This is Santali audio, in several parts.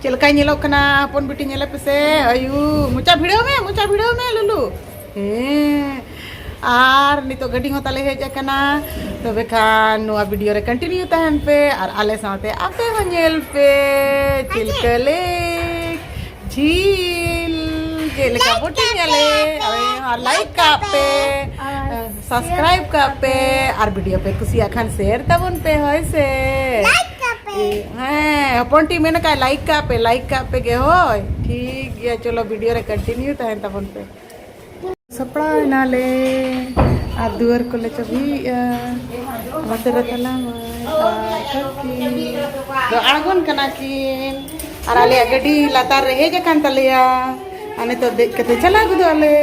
ᱪᱮᱫ ᱞᱮᱠᱟᱭ ᱧᱮᱞᱚᱜ ᱠᱟᱱᱟ ᱦᱚᱯᱚᱱ ᱵᱤᱴᱤ ᱧᱮᱞᱮ ᱯᱮᱥᱮ ᱟᱭᱩ ᱢᱚᱪᱟ ᱵᱷᱤᱲᱟᱹᱣ ᱢᱮ ᱢᱚᱪᱟ ᱵᱷᱤᱲᱟᱹᱣ ᱢᱮ ᱞᱩᱞᱩ ᱦᱮᱸ ᱟᱨ ᱱᱤᱛᱚᱜ ᱜᱟᱹᱰᱤ ᱦᱚᱸ ᱛᱟᱞᱮ ᱦᱮᱡ ᱟᱠᱟᱱᱟ ᱛᱚᱵᱮ ᱠᱷᱟᱱ ᱱᱚᱣᱟ ᱵᱷᱤᱰᱤᱭᱳ ᱨᱮ ᱠᱚᱱᱴᱤᱱᱤᱭᱩ ᱛᱟᱦᱮᱱ ᱯᱮ ᱟᱨ ᱟᱞᱮ ᱥᱟᱶᱛᱮ ᱟᱯᱮ ᱦᱚᱸ ᱧᱮᱞ ᱯᱮ ᱪᱤᱞᱠᱟᱹ ᱞᱮᱠ ᱡᱷᱤᱞ ᱪᱮᱫ ᱞᱮᱠᱟ ᱵᱳᱴᱤᱝ ᱟᱞᱮ ᱟᱨ ᱞᱟᱭᱤᱠ ᱠᱟᱜ ᱯᱮ ᱥᱟᱵᱥᱠᱨᱟᱭᱤᱵ ᱠᱟᱜ ᱯᱮ ᱟᱨ ᱵᱷᱤᱰᱤᱭᱳ ᱯᱮ ᱠᱩᱥᱤᱭᱟᱜ ᱠᱷᱟᱱ ᱥᱮᱭᱟᱨ ᱛᱟᱵᱚᱱ ᱯᱮ ᱦᱳᱭ ᱥᱮ ᱦᱮᱸ ᱦᱚᱯᱚᱱ ᱴᱤ ᱢᱮᱱ ᱠᱟᱜ ᱞᱟᱭᱤᱠ ᱠᱟᱜ ᱯᱮ ᱞᱟᱭᱤᱠ ᱠᱟᱜ ᱯᱮ ᱜᱮ ᱦᱳᱭ ᱴᱷᱤᱠ ᱜᱮᱭᱟ ᱪᱚᱞᱚ ᱵᱷᱤᱰᱤᱭᱳ ᱨᱮ ᱠᱚᱱᱴᱤᱱᱤᱭᱩ ᱛᱟᱦᱮᱱ ᱛᱟᱵᱚᱱ ᱯᱮ ᱥᱟᱯᱲᱟᱣ ᱮᱱᱟᱞᱮ ᱟᱨ ᱫᱩᱣᱟᱹᱨ ᱠᱚᱞᱮ ᱪᱟᱹᱵᱤᱭᱮᱜᱼᱟ ᱚᱱᱟᱛᱮ ᱨᱮ ᱛᱟᱞᱟ ᱫᱚ ᱟᱬᱜᱚᱱ ᱠᱟᱱᱟ ᱠᱤᱱ ᱟᱨ ᱟᱞᱮᱭᱟᱜ ᱜᱟᱹᱰᱤ ᱞᱟᱛᱟᱨ ᱨᱮ ᱦᱮᱡ ᱟᱠᱟᱱ ᱛᱟᱞᱮᱭᱟ ᱟᱨ ᱱᱤᱛᱚᱜ ᱫᱮᱡ ᱠᱟᱛᱮ ᱪᱟᱞᱟᱣ ᱜᱚᱫᱚᱜ ᱟᱞᱮ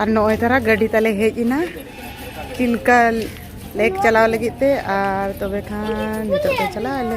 ᱟᱨ ᱱᱚᱜᱼᱚᱭ ᱛᱟᱨᱟ ᱜᱟᱹᱰᱤ ᱛᱟᱞᱮ ᱦᱮᱡ ᱮᱱᱟ ᱪᱤᱞᱠᱟ ᱞᱮᱠ ᱪᱟᱞᱟᱣ ᱞᱟᱹᱜᱤᱫ ᱛᱮ ᱟᱨ ᱛᱚᱵᱮ ᱠᱷᱟᱱ ᱱᱤᱛᱚᱜ ᱫᱚ ᱪᱟᱞᱟᱜ ᱟᱞᱮ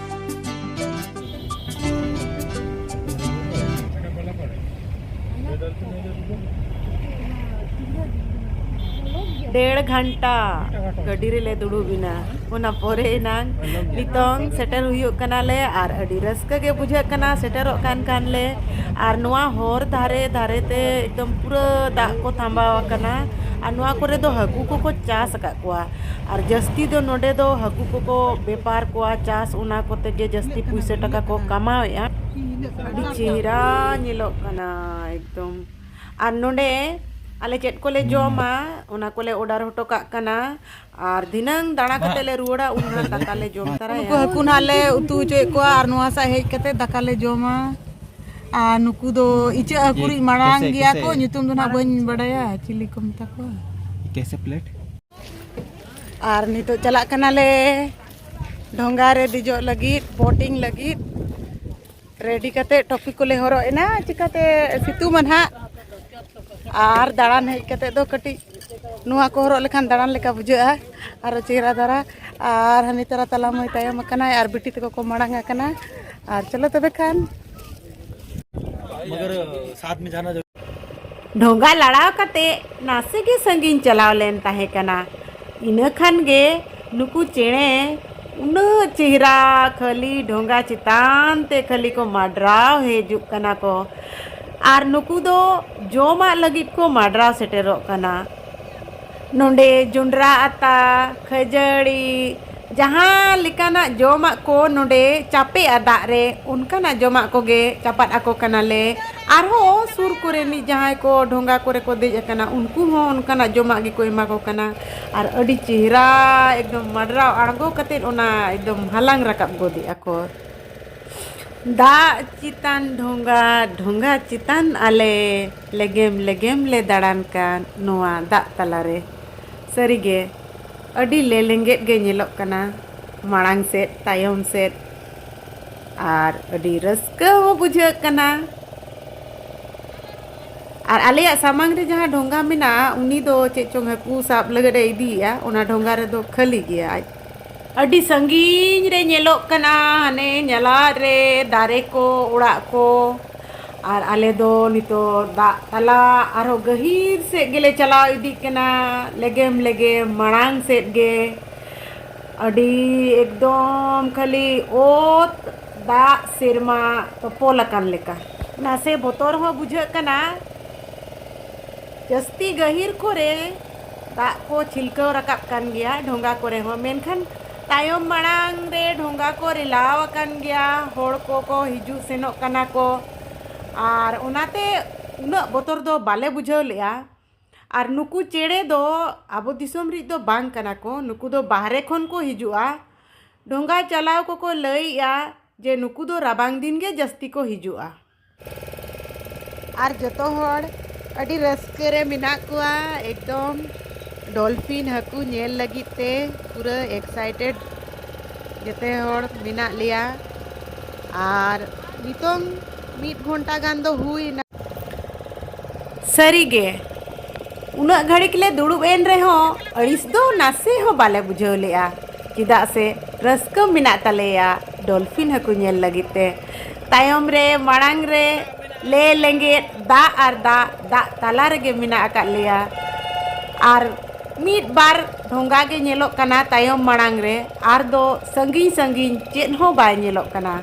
ᱰᱮᱲ ᱜᱷᱟᱱᱴᱟ ᱜᱟᱹᱰᱤ ᱨᱮᱞᱮ ᱫᱩᱲᱩᱵ ᱮᱱᱟ ᱚᱱᱟ ᱯᱚᱨᱮ ᱮᱱᱟᱝ ᱱᱤᱛᱚᱝ ᱥᱮᱴᱮᱨ ᱦᱩᱭᱩᱜ ᱠᱟᱱᱟᱞᱮ ᱟᱨ ᱟᱹᱰᱤ ᱨᱟᱹᱥᱠᱟᱹ ᱜᱮ ᱵᱩᱡᱷᱟᱹᱜ ᱠᱟᱱᱟ ᱥᱮᱴᱮᱨᱚᱜ ᱠᱟᱱ ᱠᱷᱟᱱ ᱞᱮ ᱟᱨ ᱱᱚᱣᱟ ᱦᱚᱨ ᱫᱷᱟᱨᱮ ᱫᱷᱟᱨᱮ ᱛᱮ ᱮᱠᱫᱚᱢ ᱯᱩᱨᱟᱹ ᱫᱟᱜ ᱠᱚ ᱛᱷᱟᱢᱵᱟᱣ ᱟᱠᱟᱱᱟ ᱟᱨ ᱱᱚᱣᱟ ᱠᱚᱨᱮ ᱫᱚ ᱦᱟᱹᱠᱩ ᱠᱚᱠᱚ ᱪᱟᱥ ᱟᱠᱟᱫ ᱠᱚᱣᱟ ᱟᱨ ᱡᱟᱹᱥᱛᱤ ᱫᱚ ᱱᱚᱸᱰᱮ ᱫᱚ ᱦᱟᱹᱠᱩ ᱠᱚᱠᱚ ᱵᱮᱯᱟᱨ ᱠᱚᱣᱟ ᱪᱟᱥ ᱚᱱᱟ ᱠᱚᱛᱮ ᱜᱮ ᱡᱟᱹᱥᱛᱤ ᱯᱩᱭᱥᱟᱹ ᱴᱟᱠᱟ ᱠᱚ ᱠᱟᱢᱟᱣᱮᱜᱼᱟ ᱟᱹᱰᱤ ᱪᱮᱦᱨᱟ ᱧᱮᱞᱚᱜ ᱠᱟᱱᱟ ᱮᱠᱫᱚᱢ ᱟᱨ ᱱᱚᱸᱰᱮ ᱟᱞᱮ ᱪᱮᱫ ᱠᱚᱞᱮ ᱡᱚᱢᱟ ᱚᱱᱟ ᱠᱚᱞᱮ ᱚᱰᱟᱨ ᱦᱚᱴᱚ ᱠᱟᱜ ᱠᱟᱱᱟ ᱟᱨ ᱫᱷᱤᱱᱟᱹᱝ ᱫᱟᱬᱟ ᱠᱟᱛᱮ ᱞᱮ ᱨᱩᱣᱟᱹᱲᱟ ᱩᱱ ᱦᱟᱸᱜ ᱫᱟᱠᱟ ᱞᱮ ᱡᱚᱢ ᱛᱟᱨᱟᱭᱟ ᱱᱩᱠᱩ ᱦᱟᱹᱠᱩ ᱱᱟᱦᱟᱜ ᱞᱮ ᱩᱛᱩ ᱦᱚᱪᱚᱭᱮᱫ ᱠᱚᱣᱟ ᱟᱨ ᱱᱚᱣᱟ ᱥᱟᱜ ᱦᱮᱡ ᱠᱟᱛᱮ ᱫᱟᱠᱟ ᱞᱮ ᱡᱚᱢᱟ ᱟᱨ ᱱᱩᱠᱩ ᱫᱚ ᱤᱪᱟᱹᱜ ᱦᱟᱹᱠᱩ ᱨᱤᱡ ᱢᱟᱲᱟᱝ ᱜᱮᱭᱟ ᱠᱚ ᱧᱩᱛᱩᱢ ᱫᱚ ᱱᱟᱦᱟᱜ ᱵᱟᱹᱧ ᱵᱟᱰᱟᱭᱟ ᱪᱤᱞᱤ ᱠᱚ ᱢᱮᱛᱟ ᱠᱚᱣᱟ ᱠᱮᱥᱮ ᱯᱞᱮᱴ ᱟᱨ ᱱᱤᱛᱚᱜ ᱪᱟᱞᱟᱜ ᱠᱟᱱᱟᱞᱮ ᱰᱷᱚᱸᱜᱟ ᱨᱮ ᱫᱮᱡᱚᱜ ᱞᱟᱹᱜᱤᱫ ᱵᱳᱴᱤᱝ ᱞᱟᱹᱜᱤᱫ ᱨᱮᱰᱤ ᱠᱟᱛᱮ ᱴᱚᱯᱤ ᱠᱚᱞᱮ ᱦᱚᱨᱚᱜ ᱮᱱᱟ ᱪᱤᱠᱟᱛᱮ ᱥᱤᱛᱩᱝ ᱢᱟ ᱱᱟᱦᱟᱜ ᱟᱨ ᱫᱟᱬᱟᱱ ᱦᱮᱡ ᱠᱟᱛᱮ ᱫᱚ ᱠᱟᱹᱴᱤᱡ ᱱᱚᱣᱟ ᱠᱚ ᱦᱚᱨᱚᱜ ᱞᱮᱠᱷᱟᱱ ᱫᱟᱬᱟᱱ ᱞᱮᱠᱟ ᱵᱩᱡᱷᱟᱹᱜᱼᱟ ᱟᱨᱚ ᱪᱮᱦᱨᱟ ᱫᱷᱟᱨᱟ ᱟᱨ ᱦᱟᱹᱱᱤ ᱛᱟᱨᱟ ᱛᱟᱞᱟ ᱢᱟᱹᱭ ᱛᱟᱭᱚᱢ ᱟᱠᱟᱱᱟᱭ ᱟᱨ ᱵᱤᱴᱤ ᱛᱟᱠᱚ ᱠᱚ ᱢᱟᱲᱟᱝ ᱟᱠᱟᱱᱟ ᱟᱨ ᱪᱚᱞᱚ ᱛᱚᱵᱮ ᱠᱷᱟᱱ ᱰᱷᱚᱸᱜᱟ ᱞᱟᱲᱟᱣ ᱠᱟᱛᱮ ᱱᱟᱥᱮ ᱜᱮ ᱥᱟᱺᱜᱤᱧ ᱪᱟᱞᱟᱣ ᱞᱮᱱ ᱛᱟᱦᱮᱸ ᱠᱟᱱᱟ ᱤᱱᱟᱹ ᱠᱷᱟᱱ ᱜᱮ ᱱᱩᱠᱩ ᱪᱮᱬᱮ ᱩᱱᱟᱹᱜ ᱪᱮᱦᱨᱟ ᱠᱷᱟᱹᱞᱤ ᱰᱷᱚᱸᱜᱟ ᱪᱮᱛᱟᱱ ᱛᱮ ᱠᱷᱟᱹᱞᱤ ᱠᱚ ᱢᱟᱰᱨᱟᱣ ᱦᱤᱡᱩᱜ ᱠᱟᱱᱟ ᱠᱚ ᱟᱨ ᱱᱩᱠᱩ ᱫᱚ ᱡᱚᱢᱟᱜ ᱞᱟᱹᱜᱤᱫ ᱠᱚ ᱢᱟᱰᱨᱟᱣ ᱥᱮᱴᱮᱨᱚᱜ ᱠᱟᱱᱟ ᱱᱚᱰᱮ ᱡᱚᱸᱰᱨᱟ ᱟᱛᱟ ᱠᱷᱟᱹᱡᱟᱹᱲᱤ ᱡᱟᱦᱟᱸ ᱞᱮᱠᱟᱱᱟᱜ ᱡᱚᱢᱟᱜ ᱠᱚ ᱱᱚᱰᱮ ᱪᱟᱯᱮᱜᱼᱟ ᱫᱟᱜ ᱨᱮ ᱚᱱᱠᱟᱱᱟᱜ ᱡᱚᱢᱟᱜ ᱠᱚᱜᱮ ᱪᱟᱯᱟᱫ ᱟᱠᱚ ᱠᱟᱱᱟᱞᱮ ᱟᱨᱦᱚᱸ ᱥᱩᱨ ᱠᱚᱨᱮᱱᱤᱡ ᱡᱟᱦᱟᱸᱭ ᱠᱚ ᱰᱷᱚᱸᱜᱟ ᱠᱚᱨᱮ ᱠᱚ ᱫᱮᱡ ᱟᱠᱟᱱᱟ ᱩᱱᱠᱩ ᱦᱚᱸ ᱚᱱᱠᱟᱱᱟᱜ ᱡᱚᱢᱟᱜ ᱜᱮᱠᱚ ᱮᱢᱟ ᱠᱚ ᱠᱟᱱᱟ ᱟᱨ ᱟᱹᱰᱤ ᱪᱮᱦᱨᱟ ᱮᱠᱫᱚᱢ ᱢᱟᱰᱨᱟᱣ ᱟᱬᱜᱚ ᱠᱟᱛᱮ ᱚᱱᱟ ᱮᱠᱫᱚᱢ ᱦᱟᱞᱟᱝ ᱨᱟᱠᱟᱵ ᱜᱚᱫᱮᱜᱼᱟ ᱠᱚ ᱫᱟᱜ ᱪᱮᱛᱟᱱ ᱰᱷᱚᱸᱜᱟ ᱰᱷᱚᱸᱜᱟ ᱪᱮᱛᱟᱱ ᱟᱞᱮ ᱞᱮᱜᱮᱢ ᱞᱮᱜᱮᱢ ᱞᱮ ᱫᱟᱬᱟᱱ ᱠᱟᱱ ᱱᱚᱣᱟ ᱫᱟᱜ ᱛᱟᱞᱟ ᱨᱮ᱾ ᱥᱟᱹᱨᱤ ᱜᱮ ᱟᱹᱰᱤ ᱞᱮᱞᱮᱸᱜᱮᱫ ᱜᱮ ᱧᱮᱞᱚᱜ ᱠᱟᱱᱟ ᱢᱟᱲᱟᱝ ᱥᱮᱫ ᱛᱟᱭᱚᱢ ᱥᱮᱫ ᱟᱨ ᱟᱹᱰᱤ ᱨᱟᱹᱥᱠᱟᱹ ᱦᱚᱸ ᱵᱩᱡᱷᱟᱹᱜ ᱠᱟᱱᱟ᱾ ᱟᱨ ᱟᱞᱮᱭᱟᱜ ᱥᱟᱢᱟᱝ ᱨᱮ ᱡᱟᱦᱟᱸ ᱰᱷᱚᱸᱜᱟ ᱢᱮᱱᱟᱜᱼᱟ ᱩᱱᱤ ᱫᱚ ᱪᱮᱫ ᱪᱚᱝ ᱦᱟᱹᱠᱩ ᱥᱟᱵ ᱞᱟᱹᱜᱤᱫ ᱮ ᱤᱫᱤᱭᱮᱜᱼᱟ ᱚᱱᱟ ᱰᱷᱚᱸᱜᱟ ᱨᱮᱫᱚ ᱠᱷᱟᱹᱞᱤ ᱜᱮᱭᱟ ᱟᱡ ᱟᱹᱰᱤ ᱥᱟᱺᱜᱤᱧ ᱨᱮ ᱧᱮᱞᱚᱜ ᱠᱟᱱᱟ ᱦᱟᱱᱮ ᱧᱟᱞᱟᱫ ᱨᱮ ᱫᱟᱨᱮ ᱠᱚ ᱚᱲᱟᱜ ᱠᱚ ᱟᱨ ᱟᱞᱮ ᱫᱚ ᱱᱤᱛᱚᱜ ᱫᱟᱜ ᱛᱟᱞᱟ ᱟᱨᱦᱚᱸ ᱜᱟᱹᱦᱤᱨ ᱥᱮᱫ ᱜᱮᱞᱮ ᱪᱟᱞᱟᱣ ᱤᱫᱤᱜ ᱠᱟᱱᱟ ᱞᱮᱜᱮᱢ ᱞᱮᱜᱮᱢ ᱢᱟᱲᱟᱝ ᱥᱮᱫ ᱜᱮ ᱟᱹᱰᱤ ᱮᱠᱫᱚᱢ ᱠᱷᱟᱹᱞᱤ ᱚᱛ ᱫᱟᱜ ᱥᱮᱨᱢᱟ ᱛᱚᱯᱚᱞ ᱟᱠᱟᱱ ᱞᱮᱠᱟ ᱱᱟᱥᱮ ᱵᱚᱛᱚᱨ ᱦᱚᱸ ᱵᱩᱡᱷᱟᱹᱜ ᱠᱟᱱᱟ ᱡᱟᱹᱥᱛᱤ ᱜᱟᱹᱦᱤᱨ ᱠᱚᱨᱮ ᱫᱟᱜ ᱠᱚ ᱪᱷᱤᱞᱠᱟᱹᱣ ᱨᱟᱠᱟᱵ ᱠᱟᱱ ᱜᱮᱭᱟ ᱰᱷᱚᱸᱜᱟ ᱠᱚᱨᱮ ᱦᱚᱸ ᱢᱮᱱᱠᱷᱟᱱ ᱛᱟᱭᱚᱢ ᱢᱟᱲᱟᱝ ᱨᱮ ᱰᱷᱚᱸᱜᱟ ᱠᱚ ᱨᱮᱞᱟᱣ ᱟᱠᱟᱱ ᱜᱮᱭᱟ ᱦᱚᱲ ᱠᱚᱠᱚ ᱦᱤᱡᱩᱜ ᱥᱮᱱᱚᱜ ᱠᱟᱱᱟ ᱠᱚ ᱟᱨ ᱚᱱᱟᱛᱮ ᱩᱱᱟᱹᱜ ᱵᱚᱛᱚᱨ ᱫᱚ ᱵᱟᱞᱮ ᱵᱩᱡᱷᱟᱹᱣ ᱞᱮᱜᱼᱟ ᱟᱨ ᱱᱩᱠᱩ ᱪᱮᱬᱮ ᱫᱚ ᱟᱵᱚ ᱫᱤᱥᱚᱢ ᱨᱮᱱ ᱫᱚ ᱵᱟᱝ ᱠᱟᱱᱟ ᱠᱚ ᱱᱩᱠᱩ ᱫᱚ ᱵᱟᱦᱨᱮ ᱠᱷᱚᱱ ᱠᱚ ᱦᱤᱡᱩᱜᱼᱟ ᱰᱷᱚᱸᱜᱟ ᱪᱟᱞᱟᱣ ᱠᱚᱠᱚ ᱞᱟᱹᱭᱮᱜᱼᱟ ᱡᱮ ᱱᱩᱠᱩ ᱫᱚ ᱨᱟᱵᱟᱝ ᱫᱤᱱ ᱜᱮ ᱡᱟᱹᱥᱛᱤ ᱠᱚ ᱦᱤᱡᱩᱜᱼᱟ ᱟᱨ ᱡᱚᱛᱚ ᱦᱚᱲ ᱟᱹᱰᱤ ᱨᱟᱹᱥᱠᱟᱹ ᱨᱮ ᱢᱮᱱᱟᱜ ᱠᱚᱣᱟ ᱮᱠᱫᱚᱢ ᱰᱚᱞᱯᱷᱤᱱ ᱦᱟᱹᱠᱩ ᱧᱮᱞ ᱞᱟᱹᱜᱤᱫ ᱛᱮ ᱯᱩᱨᱟᱹ ᱮᱠᱥᱟᱭᱴᱮᱰ ᱡᱚᱛᱚ ᱦᱚᱲ ᱢᱮᱱᱟᱜ ᱞᱮᱭᱟ ᱟᱨ ᱱᱤᱛᱚᱝ ᱢᱤᱫ ᱜᱷᱚᱱᱴᱟ ᱜᱟᱱ ᱫᱚ ᱦᱩᱭᱱᱟ ᱥᱟᱹᱨᱤᱜᱮ ᱩᱱᱟᱹᱜ ᱜᱷᱟᱹᱲᱤᱠ ᱞᱮ ᱫᱩᱲᱩᱵ ᱮᱱ ᱨᱮᱦᱚᱸ ᱟᱹᱲᱤᱥ ᱫᱚ ᱱᱟᱥᱮ ᱦᱚᱸ ᱵᱟᱞᱮ ᱵᱩᱡᱷᱟᱹᱣ ᱞᱮᱜᱼᱟ ᱪᱮᱫᱟᱜ ᱥᱮ ᱨᱟᱹᱥᱠᱟᱹ ᱢᱮᱱᱟᱜ ᱛᱟᱞᱮᱭᱟ ᱰᱚᱞᱯᱷᱤᱱ ᱦᱟᱹᱠᱩ ᱧᱮᱞ ᱞᱟᱹᱜᱤᱫ ᱛᱮ ᱛᱟᱭᱚᱢ ᱨᱮ ᱢᱟᱲᱟᱝ ᱨᱮ ᱞᱮ ᱞᱮᱸᱜᱮᱫ ᱫᱟᱜ ᱟᱨ ᱫᱟᱜ ᱫᱟᱜ ᱛᱟᱞᱟ ᱨᱮᱜᱮ ᱢᱮᱱᱟᱜ ᱟᱠᱟᱫ ᱞᱮᱭᱟ ᱟᱨ ᱢᱤᱫ ᱵᱟᱨ ᱰᱷᱚᱸᱜᱟ ᱜᱮ ᱧᱮᱞᱚᱜ ᱠᱟᱱᱟ ᱛᱟᱭᱚᱢ ᱢᱟᱲᱟᱝ ᱨᱮ ᱟᱨ ᱫᱚ ᱥᱟᱺᱜᱤᱧ ᱥᱟᱺᱜᱤᱧ ᱪᱮᱫ ᱦᱚᱸ ᱵᱟᱭ ᱧᱮᱞᱚᱜ ᱠᱟᱱᱟ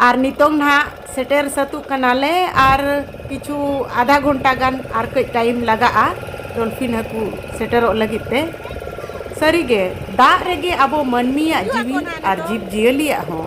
ᱟᱨ ᱱᱤᱛᱚᱝ ᱱᱟᱦᱟᱜ ᱥᱮᱴᱮᱨ ᱥᱟᱹᱛᱚᱜ ᱠᱟᱱᱟᱞᱮ ᱟᱨ ᱠᱤᱪᱷᱩ ᱟᱫᱷᱟ ᱜᱷᱚᱱᱴᱟ ᱜᱟᱱ ᱟᱨ ᱠᱟᱹᱡ ᱴᱟᱭᱤᱢ ᱞᱟᱜᱟᱜᱼᱟ ᱰᱚᱞᱯᱷᱤᱱ ᱦᱟᱹᱠᱩ ᱥᱮᱴᱮᱨᱚᱜ ᱞᱟᱹᱜᱤᱫ ᱛᱮ ᱥᱟᱹᱨᱤᱜᱮ ᱫᱟᱜ ᱨᱮᱜᱮ ᱟᱵᱚ ᱢᱟᱹᱱᱢᱤᱭᱟᱜ ᱡᱤᱣᱤ ᱟᱨ ᱡᱤᱵᱽ ᱡᱤᱭᱟᱹᱞᱤᱭᱟᱜ ᱦᱚᱸ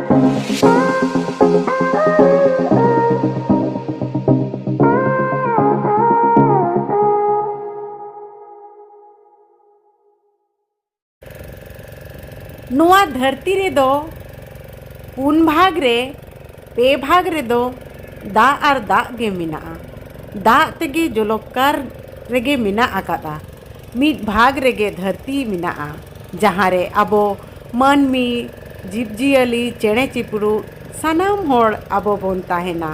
ᱱᱚᱣᱟ ᱫᱷᱟᱹᱨᱛᱤ ᱨᱮᱫᱚ ᱯᱩᱱ ᱵᱷᱟᱜᱽ ᱨᱮ ᱯᱮ ᱵᱷᱟᱜᱽ ᱨᱮᱫᱚ ᱫᱟᱜ ᱟᱨ ᱫᱟᱜ ᱜᱮ ᱢᱮᱱᱟᱜᱼᱟ ᱫᱟᱜ ᱛᱮᱜᱮ ᱡᱚᱞᱚᱠᱟᱨ ᱨᱮᱜᱮ ᱢᱮᱱᱟᱜ ᱟᱠᱟᱫᱟ ᱢᱤᱫ ᱵᱷᱟᱜᱽ ᱨᱮᱜᱮ ᱫᱷᱟᱹᱨᱛᱤ ᱢᱮᱱᱟᱜᱼᱟ ᱡᱟᱦᱟᱸ ᱨᱮ ᱟᱵᱚ ᱢᱟᱹᱱᱢᱤ ᱡᱤᱵᱽ ᱡᱤᱭᱟᱹᱞᱤ ᱪᱮᱬᱮ ᱪᱤᱯᱨᱩᱫ ᱥᱟᱱᱟᱢ ᱦᱚᱲ ᱟᱵᱚ ᱵᱚᱱ ᱛᱟᱦᱮᱱᱟ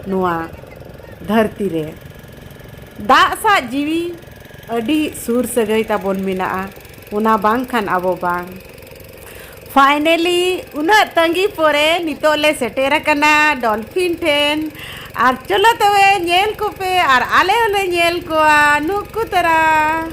ᱱᱚᱣᱟ ᱫᱷᱟᱹᱨᱛᱤ ᱨᱮ ᱫᱟᱜ ᱥᱟᱶ ᱡᱤᱣᱤ ᱟᱹᱰᱤ ᱥᱩᱨ ᱥᱟᱹᱜᱟᱹᱭ ᱛᱟᱵᱚᱱ ᱢᱮᱱᱟᱜᱼᱟ ᱚᱱᱟ ᱵᱟᱝᱠᱷᱟᱱ ᱟᱵᱚ ᱵᱟᱝ ᱯᱷᱟᱭᱱᱮᱞᱤ ᱩᱱᱟᱹᱜ ᱛᱟᱺᱜᱤ ᱯᱚᱨᱮ ᱱᱤᱛᱚᱜ ᱞᱮ ᱥᱮᱴᱮᱨ ᱟᱠᱟᱱᱟ ᱰᱚᱞᱯᱷᱤᱱ ᱴᱷᱮᱱ ᱟᱨ ᱪᱚᱞᱚ ᱛᱚᱵᱮ ᱧᱮᱞ ᱠᱚᱯᱮ ᱟᱨ ᱟᱞᱮ ᱦᱚᱸᱞᱮ ᱧᱮᱞ ᱠᱚᱣᱟ ᱱᱩᱠᱩ ᱛᱟᱨᱟ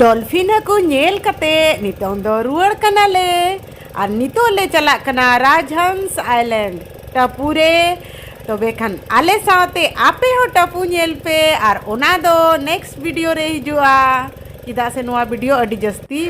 ᱰᱚᱞᱯᱷᱤᱱ ᱦᱟᱹᱠᱩ ᱧᱮᱞ ᱠᱟᱛᱮ ᱱᱤᱛᱚᱝ ᱫᱚ ᱨᱩᱣᱟᱹᱲ ᱠᱟᱱᱟᱞᱮ ᱟᱨ ᱱᱤᱛᱚᱜ ᱞᱮ ᱪᱟᱞᱟᱜ ᱠᱟᱱᱟ ᱨᱟᱡᱽᱦᱚᱸᱥ ᱟᱭᱞᱮᱱᱰ ᱴᱟᱹᱯᱩ ᱨᱮ ᱛᱚᱵᱮ ᱠᱷᱟᱱ ᱟᱞᱮ ᱥᱟᱶᱛᱮ ᱟᱯᱮ ᱦᱚᱸ ᱴᱟᱹᱯᱩ ᱧᱮᱞ ᱯᱮ ᱟᱨ ᱚᱱᱟ ᱫᱚ ᱱᱮᱠᱥᱴ ᱵᱷᱤᱰᱤᱭᱳ ᱨᱮ ᱦᱤᱡᱩᱜᱼᱟ ᱪᱮᱫᱟᱜ ᱥᱮ ᱱᱚᱣᱟ ᱵᱷᱤᱰᱤᱭᱳ ᱟᱹᱰᱤ ᱡᱟᱹᱥᱛᱤ